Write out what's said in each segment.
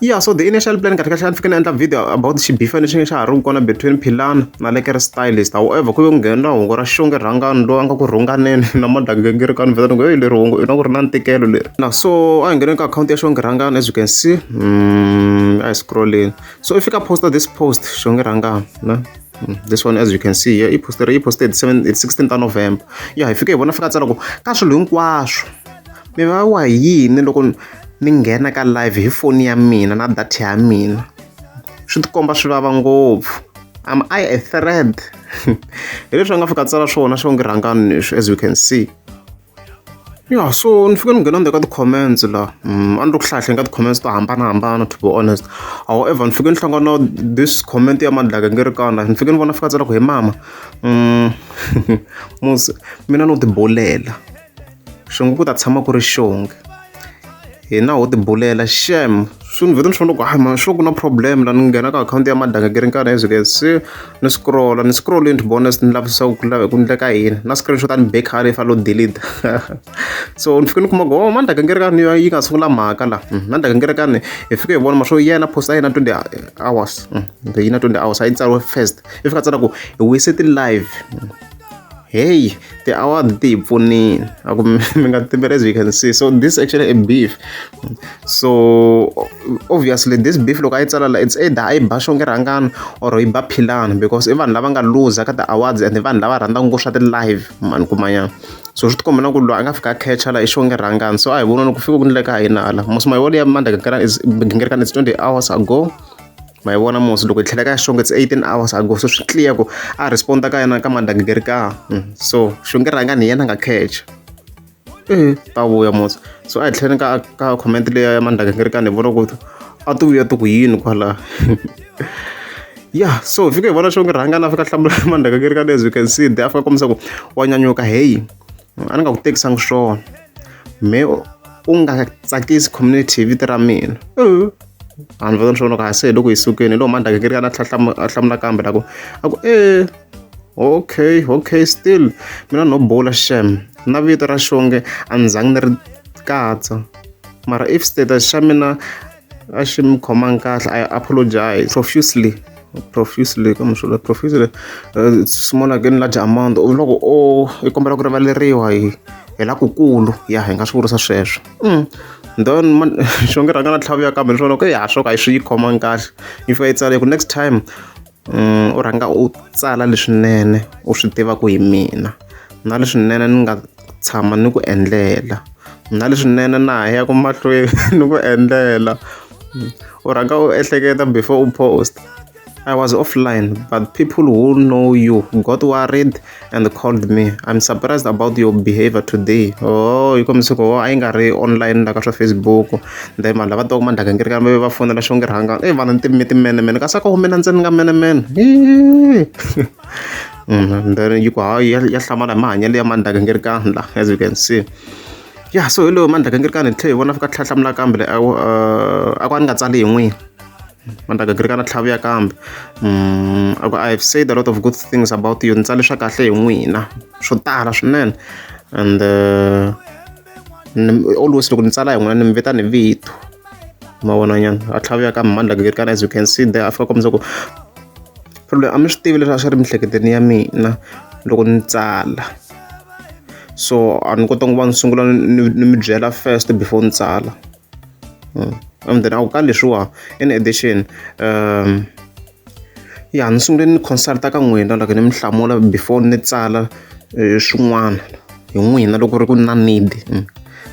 ya so the initial plan kahle kahle a ni fike ni endla video about xibifa lexi nge xa ha ri kona between philana na lekere stylist however ku ve ku nghenela hungu ra xonge rhangani loyi a nga ku rhunganeni na madangingiriko a ni vheta ni ku heyi leri hungu i na ku ri na ntikelo leri na so a hi ngheneni ka akhawunti ya xonge rhangani as you can see mm, a hi scrolleni so i fika posta this post xonge rhangani na Mm, this one as you can see here i posted i posted 16 ta november ya hi fike hi vona fika tsala ku ka swilo hinkwaswo Mi vavawa hi yini loko ni nghena ka live hi foni ya mina na data ya mina? Swi ti komba swi vava ngopfu. Am I a threat? Hi leswi a nga fika a tsala swona swo ngi rhangani leswi as you can see. Ya so ni fike ni nghena ni le ka ti-comments laha a ni ri ku hlayahleni ka ti-comments to hambanahambana to be honest. However ni fike ni hlangana na this comment ya Madlaka Ngerekana, ni fike ni vona a fika a tsala ku he mama musi mina no tibulela. xingu ku ta tshama ku ri xonge hina ho tibulela xem swi ni vheta ni swi vona ku hayi ma sure ku na problem la ni nghena ka akhawunti ya madanga ke ri nkarhi as ke se ni scrolla ni scrollini ni vona ni lavisisa ku lava ku endleka yini na screenshot a ni be khale fa lo delete so ni fike ni kuma ku oh mandaka ngeri ka ni yi nga sungula mhaka la hmm, mandaka ngeri ka ni hi fike hi vona ma swo yena post a yena 20 hours hmm, yi na 20 hours a yi tsariwe first i fika tsala ku hi wise ti live hmm. heyi ti-award ti hi pfunile a ku mi nga timbela as you can see so this actually a beef so obviously this beef loko a yi tsala la it's either a yi ba xonge rhangana or yi ba philana because i vanhu lava nga luza ka ti-awards and vanhu lava rhandzaka ngopfu swa ti-live mani kumanyana so swi tikomba na ku loyi a nga fika a catcha la i xonge rhangana so a hi vona loko fika ku ni le ka hina hala mosima yi wona ya mandla gingirikana is gingirikana it's 20 hours ago ma yi vona musi loko hi tlhela ka ya xonge it's 18 hours ago so swi clear ku a responda ka yena ka mandangigeri ka hmm, so xonge rhanga ni yena nga catch eh ta vuya musi so a hi tlhela ka ka comment leya ya mandangigeri ka ni vona ku a ti vuya ti ku yini kwala ya so hi fike hi vona xonge rhanga na fika hlamula mandangigeri ka as you can see de a fika kombisa ku wa nyanyuka heyi a ni nga ku tekisanga swona me u nga tsakisi community hi vito ra mina vanhu va tona swona ku hase hi loko hi sukeni hi loko mandaka kiri kana a hlamula kambe la ku a ku e okay okay still mina no bula shem na vito ra xonge a ni zangi ni ri katsa mara if status xa mina a xi mi khomangi kahle i apologize profusely profusely ka muxola profusely uh, small again large amount loko o i kombela ku rivaleriwa hi hi lakukulu ya hi nga swi vurisa sweswo mm. then xo nge rhanga na tlhavuya kambe ni swona ku ya swo ka hi swi yi khomangi kahle if i tsale ku next time u rhanga u tsala leswinene u swi tiva ku hi mina na leswinene ni nga tshama ni ku endlela na leswinene na ha yaka mahlweni ni ku endlela u rhanga u ehleketa before u post I was offline but people who know you got worried. and called me i'm surprised about your behavior today oh yi kombisa ku a yi nga ri online la ka swa facebook then vanhu lava twaku mandlaka ngi ri kambe va fonela xo ngi rhanga e vanhu ni timime timenemene kasi a ka humela ntseni nga menemene mm-hmm. then yi ku hayi ya hlamala hi mahanyelo ya mandlaka ngi ri kani la as you can see ya so hi loyo mandlaka ngi ri kani hi tlhe hi vona fika tlhatlhamula kambe le a ku a ni nga tsali hi n'wini va ni ta gingirika na tlhaviya kambe a ku i have said a lot of good things about you ni tsale swa kahle hi n'wina swo tala swinene and always loko ni tsala hi n'wina ni mi vita ni vito mavonanyana a tlhaviya kambe mani la gingirika na as you can see there a fika kombisa ku problem a mi swi tivi leswi a swi ri mihleketeni ya mina loko ni tsala so a ni kotanga ku va ni sungula ni mi byela first before ni tsala and then a wu ka leswiwa in addition um ya ni sungule ni consulta ka n'wina loko ni mi hlamula before ni tsala eh, swin'wana hi n'wina loko ri ku na need mm.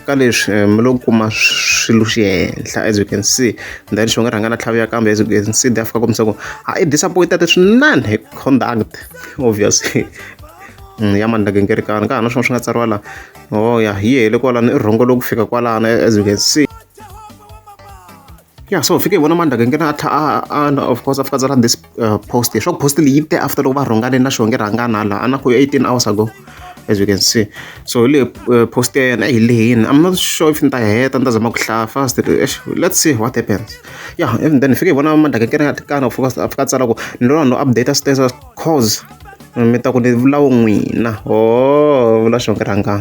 ka leswi eh, mi lo kuma swilo xi henhla as you can see then xi nga rhanga na tlhavi ya kambe as you can see dafika kombisa ku a i disappointed swinene hi conduct obviously mm, ya mani lagengerekani ka ha na swin'wana swi nga tsariwa laha oh ya yi hele kwalano i rhongo loku fika kwalano as you can see ya so fike hi vona mandaka nghena a tlha a of course after tsala this uh, post leswaku post leyi te after loko va rhongane na xonge rhangana hala a na ku 18 hours ago as you can see so hi lehe uh, post ya yena hi lehini i'm not sure if ni ta heta ni ta zama ku hlaya fast let's see what happens ya yeah, and then fike hi vona mandaka nkena kana fika tsala ku ni lona no update status coz mi ta ku ni vula vu n'wina ohoo vula xona ku ri a nga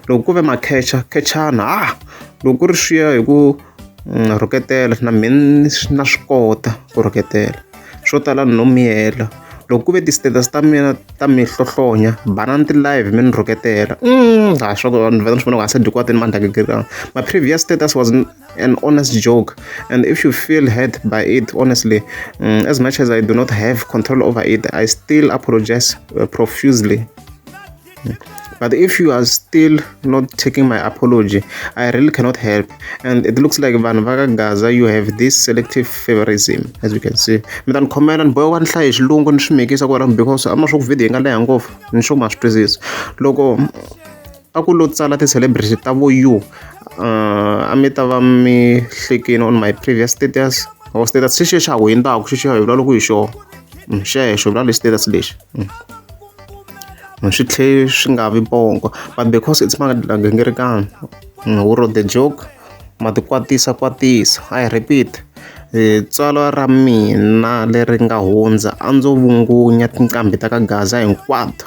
loko ku ve ma khecha khechana ha loko ku ri swiya hi ku na rhuketela na me ni na swi kota ku rhuketela swo tala ni no miyela loko ku ve ti-status ta mina ta mi hlohlonya banana ti-live mi ni rhuketela ha swa ku vanhu va ta ni swi vona ku a se dyiwa ti ni mandla ma previous status was. an honest joke and if you feel hurt by it honestly um, as much as i do not have control over it i still apologize uh, profusely but if you are still not taking my apology i really cannot help and it looks like vanhu vakagaza you have this selective favorism as you can see mi ta ni khomela ni bohiwa ni hlaye xilungu ni swi mikisa kwalano because a ma swo ku video yi nga leha ngopfu ni swo ma swi twisisa loko a ku lo tsala ti-celebrity ta vo you uh, a mi ta va mi hlekini on my previous status or status xi xexa ku hi ndaku xi xexa hi vula loko hi xona mm, xexo vula lexi status lexi mm. mm, swi tlhe swi nga vi bongo but because it's magingirikana wu ro the joke ma ti kwatisa kwatisa i repeat eh, tswalo ra mina leri nga hundza a ndzo vungunya tinqambi ta ka gaza hinkwato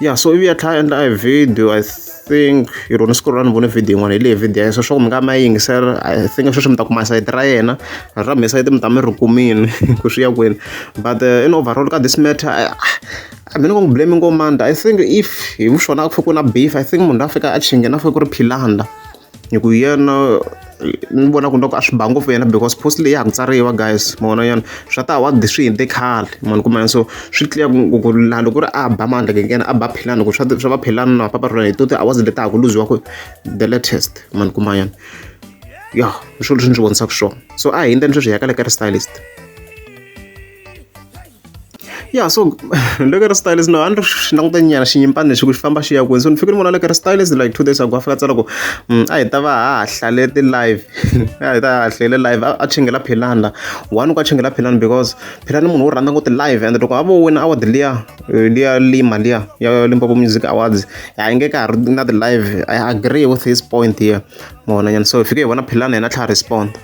ya so ivi a tlhela a endla e video I think hi rona siku ra ni vone video yin'wana hi leyi video ya so swa ku mi nga ma yingisela I think sweswi mi ta kuma sayiti ra yena ra mina sayiti mi ta mi ri kumile ku swi ya kwini but uh, in overall ka this matter uh, a mina ku n'wi blame ngomanda I think if hi swona a ku fike ku na beef I think munhu la fika a chinge na fike ku ri philanda hi ku yena ni vona ku loko a swi ba ngopfu yena because post leyi ya ha ku tsariwa guys ma vona yona swa ta wa swi hindze khale mani ku mani so swi clear ku ku laha loko ri a ba mandla kekena a ba philani ku swa swa va philani na papa rona hi to ti-hours leti ha ku luziwa ku the latest mani ku mayana ya hi swilo leswi ni swi vonisaka swona so a hi yindleni sweswi hi ya ka le ka ri stylist ya so ni le ka ri stylist no a ni ri xi languta nyana xinyimpani lexi ku xi famba xi ya kwini so ni fike ni vona le ka ri stylist like two days ago a fika a tsala ku mm, a hi ta va ha hlale ti-live a hi ta ha hlele live a a chingela philani la one ku a chingela philani because philani munhu wo rhandza ngoti live and loko a vo wina award liya eh, liya lima liya ya limpopo music awards a yi nge ka ha ri na ti-live i agree with his point here mona nyana so hi fike hi vona philani yena a tlha a respond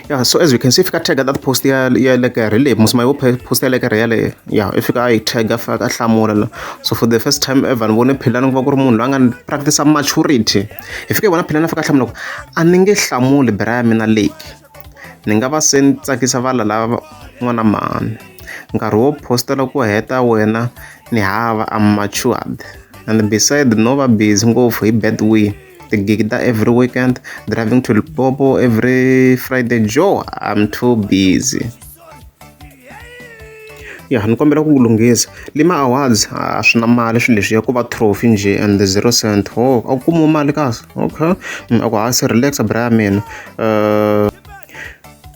yeah so as you can see if I tag that post ya ya like a relay musi mayo post ya like a relay yeah if ka i tag a faka hlamula so for the first time ever ni vone phela ni ku va ku ri munhu loyi a nga practice maturity hi fike vona phela na faka hlamula ku a ni nge hlamuli bra ya mina lake ni nga va se ni tsakisa vala lava n'wana mhani nkarhi wo postela ku heta wena ni hava am matured and beside no va busy ngopfu hi bad way tigigida every weekend driving to lipopo every friday jo i'm too busy ya ni kombela ku lunghisa lima awards a swi na mali swilo leswi ya ku va trophy njhe and the zero cent ho oh, a ku kumiwe mali kasi okay mm, a ku hasi relaxa bra ya mina uh,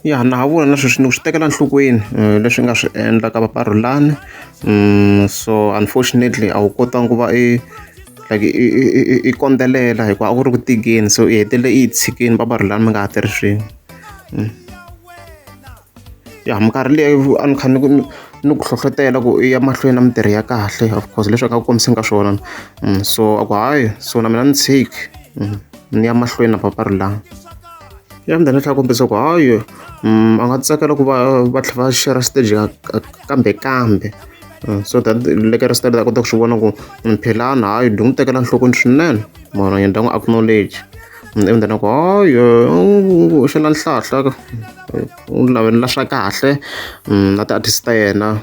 ya na ha vula na sweswi ni ku swi tekela nhlokweni eh, leswi nga swi endla ka vaparhulani mm, so unfortunately a wu kotanga ku va i like i i i i i kondzelela hikuva a ku ri ku tikeni so i hetelele i yi tshikini va va ri lani mi nga ha tirhi swin'we ya minkarhi leyi a ni kha ni ku ni ku hlohlotela ku i ya mahlweni na mintirho ya kahle of course leswi a nga ku kombiseni ka swona so a ku hayi so na mina ni tshiki ni ya mahlweni na papa ri lani ya mudende tlhela kombisa ku hayi a nga tsakela ku va va tlhela va share stage kambe kambe Mm, so that le ka restart ta kota ku swi vona ku mm, philana hayi dyi n'wi tekela nhlokweni swinene mara yena ta n'wi acknowledge mm, ivi ndana ku hayi u xela nhlahla u lavelela swa kahle na ti-artist ta yena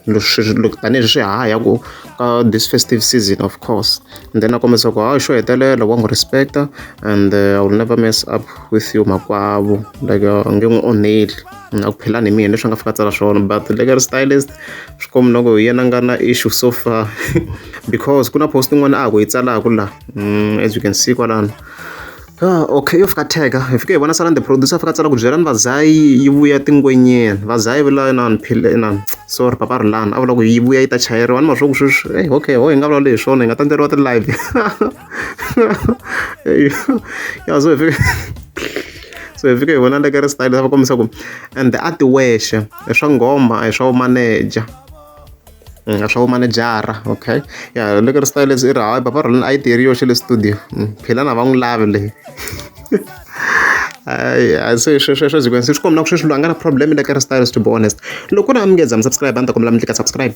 loko tanihileswi swi haya ku ka this festive season of course and then a kombisa ku hayi xo hetelela wa n'wi respecta and uh, i will never mess up with you makwavo like uh, nge n'wi onheli na ku phela ni mina leswi nga fika tsala swona but le ka ri stylist swi komi loko hi yena nga na issue so far because ku na post yin'wana a ku yi tsalaka la mm, as you can see kwalano Ah, okay yo fika tega hi fike hi vona salani the producer fika tsala ku byelani vazayi yi vuya tingwenyeni vazayi vula inani phile inani sorry papa rilani a vula ku yi vuya yi ta chayeriwa ni maswo ku sweswi hey, okay ho hi nga vulavula hi swona hi nga tandzeriwa ti-live ya so hi fika so hi fika hi vona leka ri style va kombisa ku ende a ti wexe i swa nghoma a hi swa vumaneja a swa vumanejara okay ya leka ri style leswi i ri hayi baba roleni a yi tirhi yoxe le studio philana va n'wi lavi leyi hayi se sweswo byi kwense swi kombina ku sweswi loyi a nga na problem le ka ri style to be honest loko ku ri a mi nge za mi subscribe a ni ta kombela mi tlika subscribe